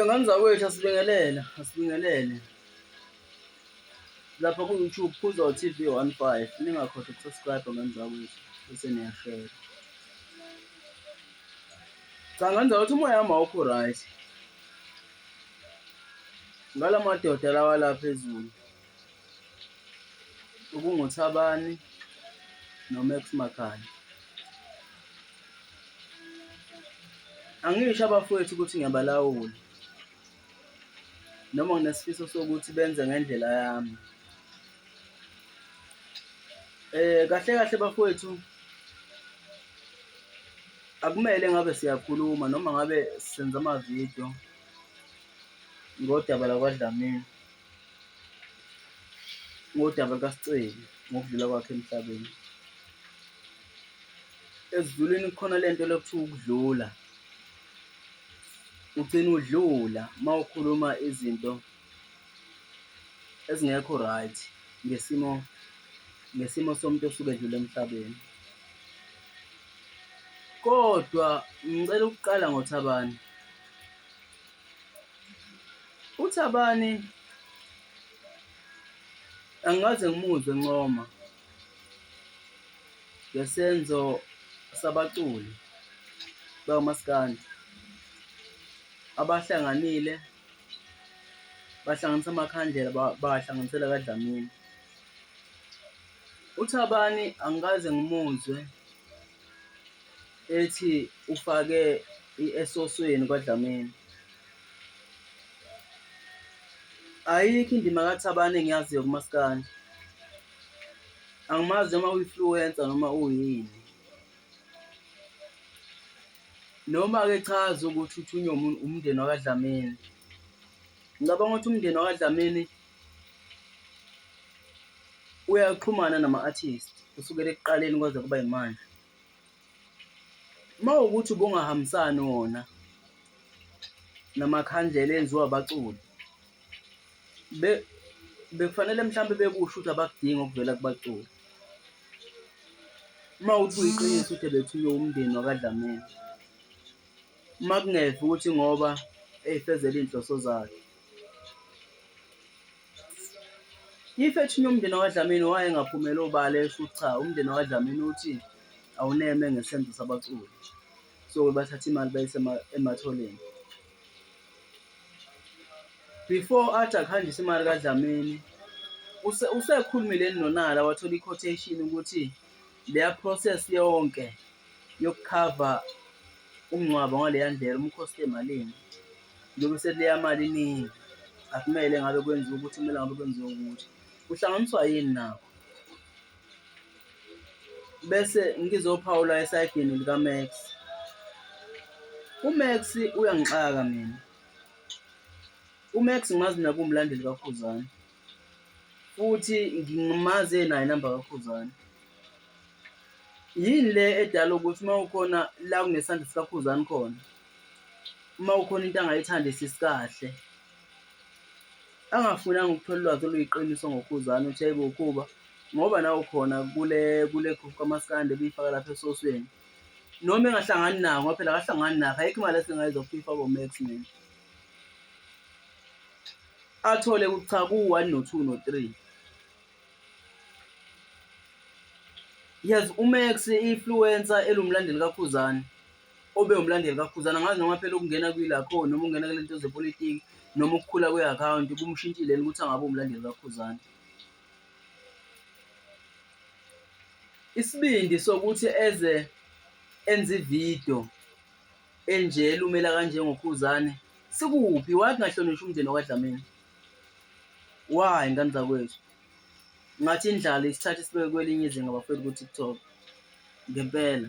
Ngane zakwethu asibingelele, asibingelele lapha ku-YouTube Khuza TV one five, ningakhohlwa uku-subscribe-a ngane zakwethu bese niyashera. Cha ngane zakwethu umoya wami awukho right ngala madoda lawa la phezulu. ukunguThabani noMax Makhanya. Angisho abafowethu ukuthi ngiyabalawula noma nginesifiso sokuthi benze ngendlela yami. Eh kahle kahle bafowethu akumele ngabe siyakhuluma noma ngabe senza amavidiyo ngodaba lakwaDlamini. ngodaba lukaSiceli ngokudlula kwakhe emhlabeni. Ezidulwini kukhona le nto lokuthiwa ukudlula. Ugcina udlula uma ukhuluma izinto ezingekho right ngesimo ngesimo somuntu osuke edlule emhlabeni. Kodwa ngicela ukuqala ngoThabani. UThabani angikaze ngimuzwe encoma ngesenzo sabaculi bakaMaskandi abahlanganile bahlanganisa amakhandlela bahlanganisela kaDlamini. UThabani angikaze ngimuzwe ethi ufake esosweni kwaDlamini. Ayikho indima kaThabane engiyaziyo kumaskandi. Angimazi noma uyi-influencer noma uyini. Noma-ke cha zokuthi uthunywe umndeni wakaDlamini. Ngicabanga ukuthi umndeni wakaDlamini uyaxhumana nama-artist kusukela ekuqaleni kwaze kuba yimanje. Uma kuwukuthi ubungahambisani wona namakhandlela enziwa abaculi bekufanele mhlawumbe bekusho ukuthi abakudingi okuvela kubaculi. Uma kuwukuthi kuyiqiniso ukuthi ebethunywe wumndeni wakaDlamini, uma kungeve ukuthi ngoba eyifezela iy'nhloso zakhe, If ethinye umndeni wakwaDlamini wayengaphumela obala esho ukuthi cha umndeni wakwaDlamini uthi awuneme ngesenzo sabaculi. So bathatha imali bayise ematholeni. Before athi akuhanjise imali kaDlamini usekhulumile nonala wathola i-quotation ukuthi leya process yonke yokukhava umngcwabo ngaleya ndlela umkhosti emalini. njengoba sekuleya mali iningi akumele ngabe kwenziwa ukuthi kumele ngabe kwenziwa ukuthi kuhlanganiswa yini nakho bese ngizophawula esayidini likaMax uMax uyangixaka mina uMax ngimazi nakumlandeli kaKhuzani futhi ngimazi enayo inamba kaKhuzani yini le edala ukuthi uma ukhona la kunesandla sikaKhuzani khona uma ukhona into angayithandi sisi kahle angafunanga ukuthola ulwazi oluyiqiniso ngokhuzane uthi ayibo ukhuba ngoba nawo khona kule kule group kamaskandi ebiyifaka lapha esosweni noma engahlangani nawo ngoba phela akahlangani nakho ayikho imali esingayiza kufifa komax mina athole ukuthi cha ku-one no-two no-three yes umax i-influencer elumlandeli kakhuzane obe umlandeli kaKhuzana ngazi noma phela ukungena kwilakho noma ungena kule nto zepolitiki noma ukukhula kwe-akhawunti kumshintshile yini ukuthi angabe umlandeli kaKhuzana isibindi sokuthi eze enze ividiyo enje lumela kanjengokhuzane sikuphi why kungahlonishwa umndeni wakwadlamini why ngane zakwethu ngathi indlala isithathe sibeke kwelinye izinga bafethu ku-tiktok ngempela